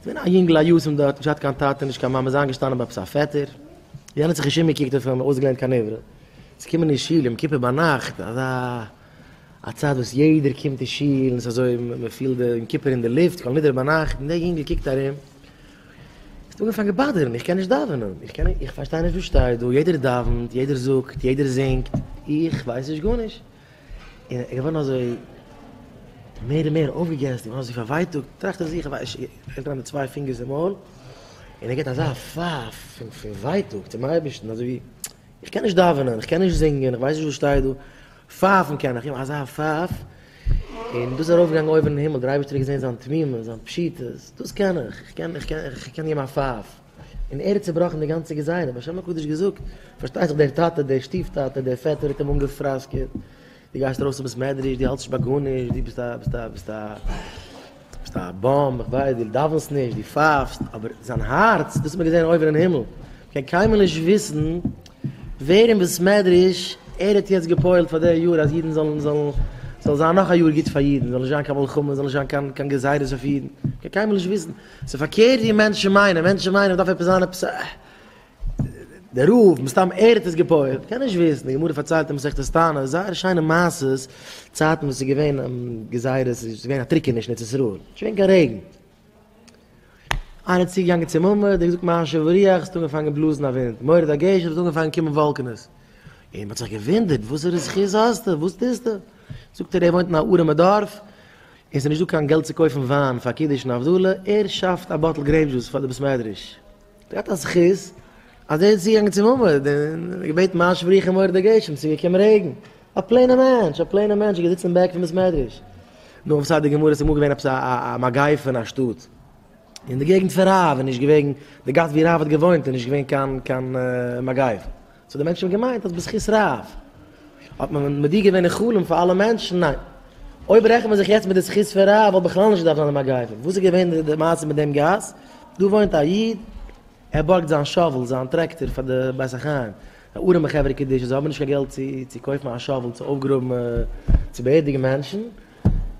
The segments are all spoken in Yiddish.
געווען א יונגל א יתום דארט, נישט געהאט קיין טאטע נישט קיין מאמע, איז איינגעשטאנען ביי עפעס א פעטער, יענער האט זיך נישט אומגעקוקט אויף אים, אויסגעלערנט קיין עברה, צו קומען אין שול יום כיפור ביינאכט, אזא א צייט וואס יעדער קומט אין שול און ס'איז אזוי מען פילט די יום כיפור אין די לופט, כל נדרי ביינאכט, און דער יונגל קוקט ארום, האט אנגעפאנגען באדערן, איך קען נישט דאווענען, איך קען נישט, איך פארשטיי נישט וואס שטייט דא, יעדער דאווענט, יעדער זאגט, יעדער זינגט, איך ווייס נישט גארנישט. און ער איז געווארן אזוי מער און מער אויפגעגעסט און געווארן אזוי פארווייטאגט, טראכט ער זיך, ער לייגט אריין די צוויי פינגערס אין מויל, און ער גיבט אזא פייף פון ווייטאג צום אייבערשטן, אזוי ווי, איך קען נישט דאווענען, איך קען נישט זינגען, איך ווייס נישט וואס שטייט דא, פייפן קען איך, אזא פייף, און דאס איז ארויפגעגאנגען אויבן אין הימל, דער אייבערשטער האט געזען זיין תמימות, זיין פשיטות, דאס קען איך, איך קען געבן א פייף. און ער האט צובראכן די גאנצע געזייער, האט בשם הקדוש געזאגט, פארשטייט זיך דער טאטע, דער שטיף טאטע, דער פעטער האט אים אנגעפראסקעט, דו גייסט ארויס אויף בית מדרש, דו האלטסט נישט ביי גארנישט, דו ביסט א, ביסט א, ביסט א, ביסט א באם, איך ווייס, דו דאווענסט נישט, דו פייפסט, אבער זיין הארץ, דאס האט מען געזען אויבן אין הימל, מען קען קיינמאל נישט וויסן ווער אין בית מדרש ער האט יעצט גע'פועל'ט פאר די יאר אז אידן זאלן, זאלן, ס'זאל זיין נאך א יאר גוט פאר אידן, ס'זאל נישט זיין קיין מלחמות, ס'זאל נישט זיין קיין, קיין גזירות אויף אידן, מען קען קיינמאל נישט וויסן. ס'איז פארקערט ווי מענטשן מיינען, מענטשן מיינען מ'דארף עפעס זיין עפעס א דער רב, מסתם ער האט עס געפויעלט, קען נישט וויסן, די גמרא פארציילט אין מסכת תענית זייער שיינע מעשות, צייטן וואס ס'איז געווען גזירות, ס'איז געווען א טריקעניש אין ארץ ישראל, נישט געווען קיין רעגן, איינער איז צוגעגאנגען צום עמוד, ער האט געזאגט מה השב ורוח, ס'האט אנגעפאנגען בלאזן א ווינט, מורד הגשם, ס'האט אנגעפאנגען קומען וואלקענעס, און מ'האט זיך געוואונדערט וואסערע זכות האסטו, וואס טוסטו? זאגט ער, ער וואוינט אין א ארעמע דארף, עס איז נישט דא קיין געלט צו קויפן וויין פאר קידוש און הבדלה, ער שאפט א באטל גרעיפ דזשוס פאר די בית מדרש, ער האט א זכות אז ער איז צוגעגאנגען צום עמוד און געבעטן מה שבריכם מוריד הגשם, עס איז געקומען רעגן, א פלעינע מענטש, א פלעינע מענטש איז געזיצן אין בעק פון בית מדרש, נו אויף סייט די גמרא, עס איז אמאל געווען עפעס א מגיפה אין א שטאט, אין די געגנט פון רב איז נישט געווען, די גאס ווי רב האט געוואוינט איז נישט געווען קיין מגיפה. סאו די מענטשן האבן געמיינט אז בזכות רב האט מען מודיע געווען אין חלום פאר אלע מענטשן, ניין. אויב רעכנט מען זיך יעצט מיט די זכות פון רב וואלט בכלל נישט געדארפט זיין די מגיפה. וואס איז געווען די מעשה מיט דעם גאס? דא וואוינט א איד, ער בארגט זיין שאוול, זיין טרעקטאר פאר די בית החיים, די ארעמע חברה קדישא זיי האבן נישט קיין געלט צו צו קויפן א שאוול צו אויפגראבן צו באערדיגן מענטשן,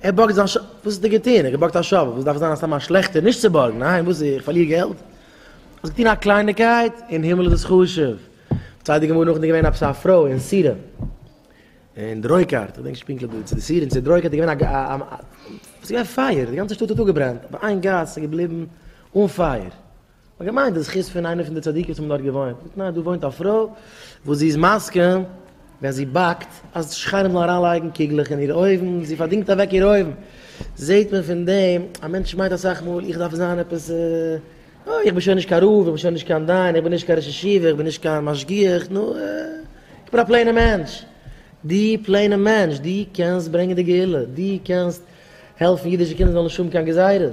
ער בארגט זיין שאוול, וואס האט ער געטון? ער האט געבארגט א שאוול, וואס דארף עס זיין א סתם א שלעכטער נישט צו בארגן? ניין, וואס איך פארליר געלט? האסט געטון א קלייניקייט? אין הימל איז עס חשוב. פארציילט די גמרא נאכדעם איז געווען עפעס א פרוי אין סירע און די רויקארט, איך דענק נישט פונקטליך וואו, צו די סירע און צו די רויקארט איז געווען א עס איז געווען פייער, די גאנצע שטאט האט אפגעברענט, אבער איין גאס איז געבליבן אן פייער. מען האט געמיינט די זכות פון איינע פון די צדיקים וואס האבן דארט געוואוינט. זאגט ניין, דא וואוינט א פרוי וואס זי איז מסכים, ווען זי באקט אז די שכנים זאלן אריינלייגן קוגלעך אין איר אויוון, זי פארדינגט אוועק איר אויוון, זעט מען פון דעם, א מענטש מיינט אסאך מאל, איך דארף זיין עפעס, אה, איך בין שוין נישט קיין רב, איך בין שוין נישט קיין דיין, איך בין נישט קיין ראש ישיבה, איך בין נישט קיין משגיח, נו, אה, איך בין א פלעינער מענטש. דו פלעינער מענטש, דו קענסט ברענגען די גאולה, דו קענסט העלפן אידישע קינדער זאלן נישט האבן קיין גזירות.